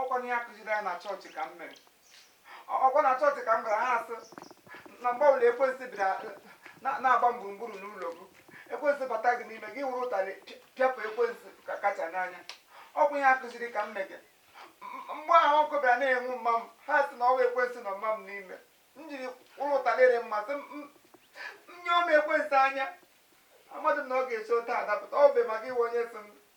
ọkwa n'ihe akụziri anyị na chọọchị ka m mere ọkwa na chọọchị ka m gara ha asị na mgbe ọbụla ekwensị bịara na- na-agba m gburugburu n'ụlọ m ekwensị bata gị n'ime gị were ụtarị pịa- pịapụ ekwensị ka kacha n'anya ọkwa ihe akụziri ka m mege M- mgbe ahụ ọkụ bịara na-enwu mma m ha sị na ọwụ ekwensị nọ mma m n'ime m jiri were ụtarị rị mma sị m- m- m nyụọ m ekwensị anya amadị m na ọ ga-esi otu a dapụta ọ bụ maka iwe onye sị m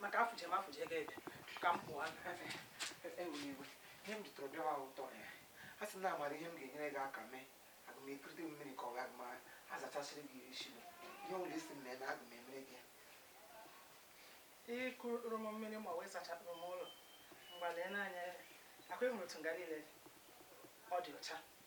maka afụje m afụje ego ebe ka m pụọ enwere iwe ihe m jụtụrụ bịawa ụtọ ya a sị na amara ihe m ga-enyere gị aka mee aga m ekurute mmiri ka ọ ga m azachasịrị gị ezi gị ihe ọ bụla ị sị m mee na aga m emere gị ikuru m mmiri ma wee sachapụrụ m ụlọ mgbalee n'anya ọkwa ị hụrụ otu nga niile ọ dị ọcha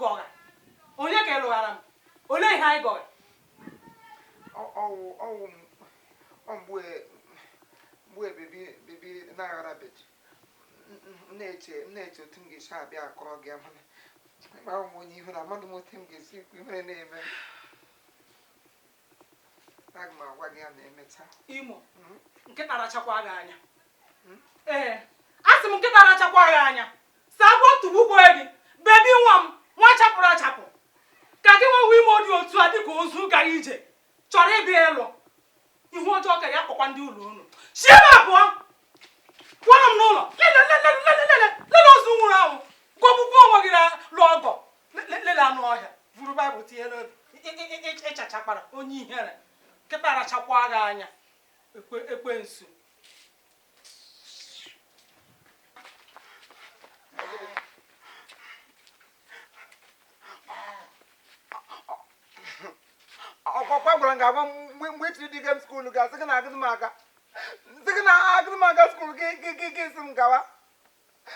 gọgha onye ka ị lụghara m olee ihe anyị gọgha ọwụ ọwụ mgbe mgbe bebi bebi na-aghara beji na-eche na-eche otu m ga-esi abịa akọrọ gị mana ịgba onwe onye ihu na amadị m otu m ga-esi ekwu ihere na-eme aga m agwa gị ya ma emecha imo hmm? nkịta rachakwa gị anya hmm? ee a sị m nkịta rachakwa gị anya sị agwọ tụgbukwe gị bebi nwa m nwa chapụrụ achapụ ka gị nwewe ime dị otu a dịka ozu gara ije chọrọ ịbịa ịlụ ihu ọjọọ ka ya kpọkwa ndị ụlọ unu si ebe a pụọkwara m n'ụlọ lele ozu nwụrụ anwụ gọgbukwa onwe gị lụ ọgọ lele anụ ọhịa buru baịbụl tinye n'obi ịchachakpara onye ihere nkịta rachakwa gị anya ekwensu ọkwa agwara m gị agwa mgbe itiri dị gem skuulu ga sị gị na agadị m aga sị gị na agadị m aga skuulu gị gị gị sị m gawa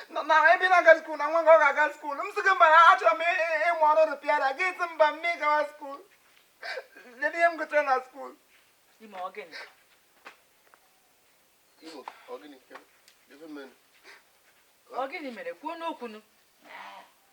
na ibe na-aga skuul na nwa gị ọ ga-aga skuul m sị gị mba na achọrọ m ịmụ ọrụ repairer gị sị mba mụ gawa skuul lee ihe m gụtara na skuul ime ọgịnị ime ọgịnị ebe mere ọgịnị mere kwuonụ okwu nụ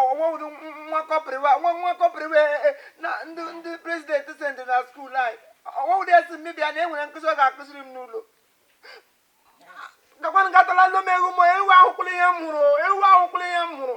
ọwụdị nwa kọpa ahụ nwa nwa kọpa ahụ e, e, na ndị ndị prezidenti sendị na skuul anyị ọwụdị ya sị m bịa na e nwere nkụzi ọ ga-akụziri m n'ụlọ gakwanụ gatala ndị m ewu m ewu ahụkwụla ihe m hụrụ ewu ahụkwụla ihe m hụrụ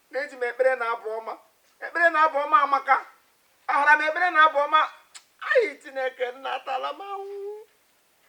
na-eji m ekpere na abụ ọma ekpere na abụ ọma amaka ahara m ekpere na abụ ọma anyị chineke nna atala m ahụ